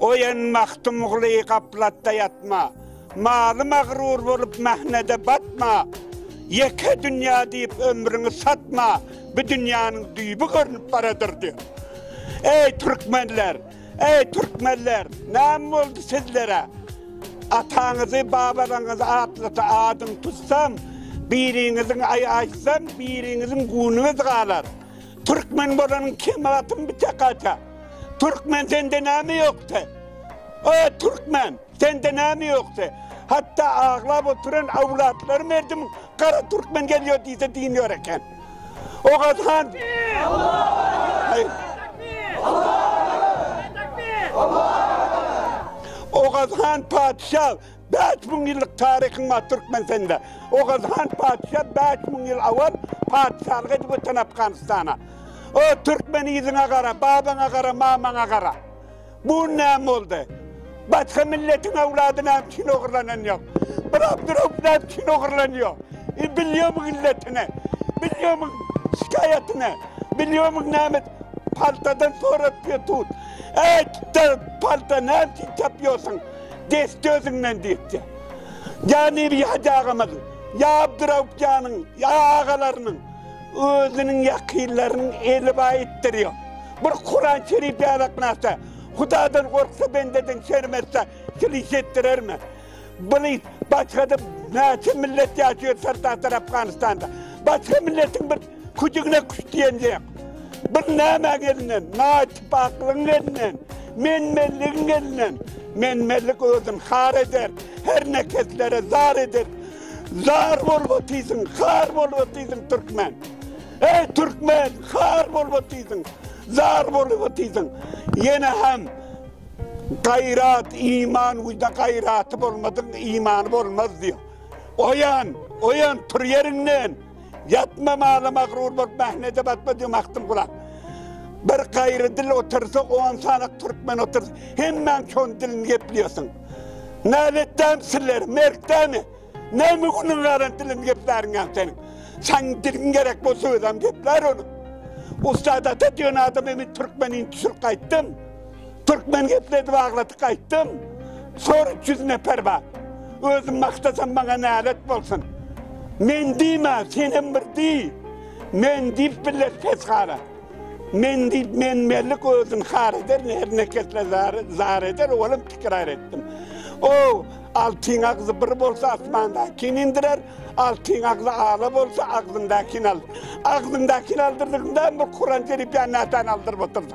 Oýan Magtymguly gaplatda ýatma, Maly magrur bolup mähnede batma, Ýeke dünýä diýip ömrüňi satma, Bu dünýäniň düýbi görnüp baradyr diýip. Eý türkmenler, eý türkmenler, näme boldy sizlere? Ataňyzy, babalaňyzy atlata adyň tutsam, biriňiziň aý aýtsam, biriňiziň gunyňyz galar. Türkmen bolanyň kemi atyň bitek aja. Türkmen sende näme ýokdy? O türkmen sende näme ýokdy? Hatda aglap oturan awlatlary merdim gara türkmen gelýär diýse diýen ýok eken. Ogaz han Ogaz han patyşa Bäş müň ýyllyk taryhym bar Türkmenistanda. Oguz han patyşa bäş müň ýyl owal patyşalyk edip öten Afganistana. O, türkmen yzyňa gara, babaňa gara, mamaňa gara. Bu gün näme boldy? Başga milletiň öwlady näme üçin ogurlanan ýok? Bir Abdurauf näme üçin ogurlanýar? E, bilýärmiň illetini? Bilýärmiň şikaýatyny? Bilýärmiň näme paltadan sorap ýör tut? Äý, palta näme üçin tapýarsyň? Geçdi özüňden diýipdi. Janir Hajy agamyz, ýa Abdyrauf janyň, ýa agalarynyň, özüniň ýakynlarynyň eli baýytdyrýa. Bir Kuran Şerif ýadaknasa, Hudadan gorksa bendeden şerm etse, sil iş etdirermi? Bili, başgada näçe millet ýaşaýar Sartahtar Afganistanda. Başga milletiň bir Küdigine küt diýen dek, bir nämäň elinden, naýtypaklygyň elinden, menmenligiň elinden, menmenlik özün har eder, her nekeslere zar eder, zar bolup otyrsyň, har bolup otyrsyň türkmen! Eý türkmen, har bolup otyrsyň, zar bolup otyrsyň! Ýene hem gaýrat, iman, uýda gaýraty bolmadygyň imany bolmaz diýýär. Oýan, oýan, tur ýeriňden! Ýatma mala magryr bol, mähnede batma diýen magtym gurak. Bir gaýry dil otursa, on sany türkmen otur, hemmäň şoň dilini gepleýärsiň. Näletdämi sizler, merkdämi? Näme günüň galan dilini gepläriňem seniň? Saň diliň gerek bolsa özem geplär onuň. Ussat ata diýen adam emin türkmen indi sürüp gaýtdym. Türkmen gepledi bagladyk aýtdym. Sor 300 nefer bar. Özüm maktasam maňa nälet bolsun. Men diýme, sen hem bir diý. Men diýip biller pesgara. Men diýip men mellik özün har eder, her nekesle zar, zar eder, olam tikrar etdim. O altyn agzy bir bolsa asmandakini indirer, altyn agzy ala bolsa agzyndakin al. Agzyndakin aldyrdygyňda bir Kuran şerif ýa natan aldyryp oturdy.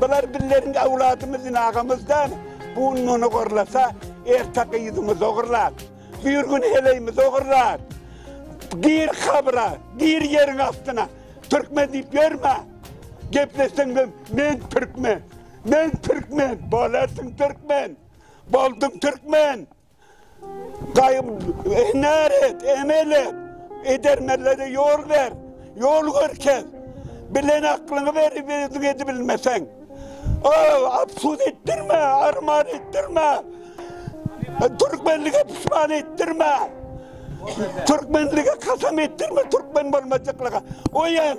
Bular bizleriň owladymyzyn agamyzdan bu gün muny gorlasa erte gyzymyz ogurlap bir gün heleýimiz ogurlap gir kabra gir ýeriň astyna türkmen diýip ýörme gepleseň de men türkmen men türkmen bolarsyň türkmen bolduň türkmen Gaýym, hünär et, emel et, edermenlere ýol ber, ýol görkez. Bilen aklyňy berip özüň edibilmeseň, afsus etdirme, arman etdirme, türkmenlige pişman etdirme, türkmenlige kasam etdirme türkmen bolmajaklyga. Oýan!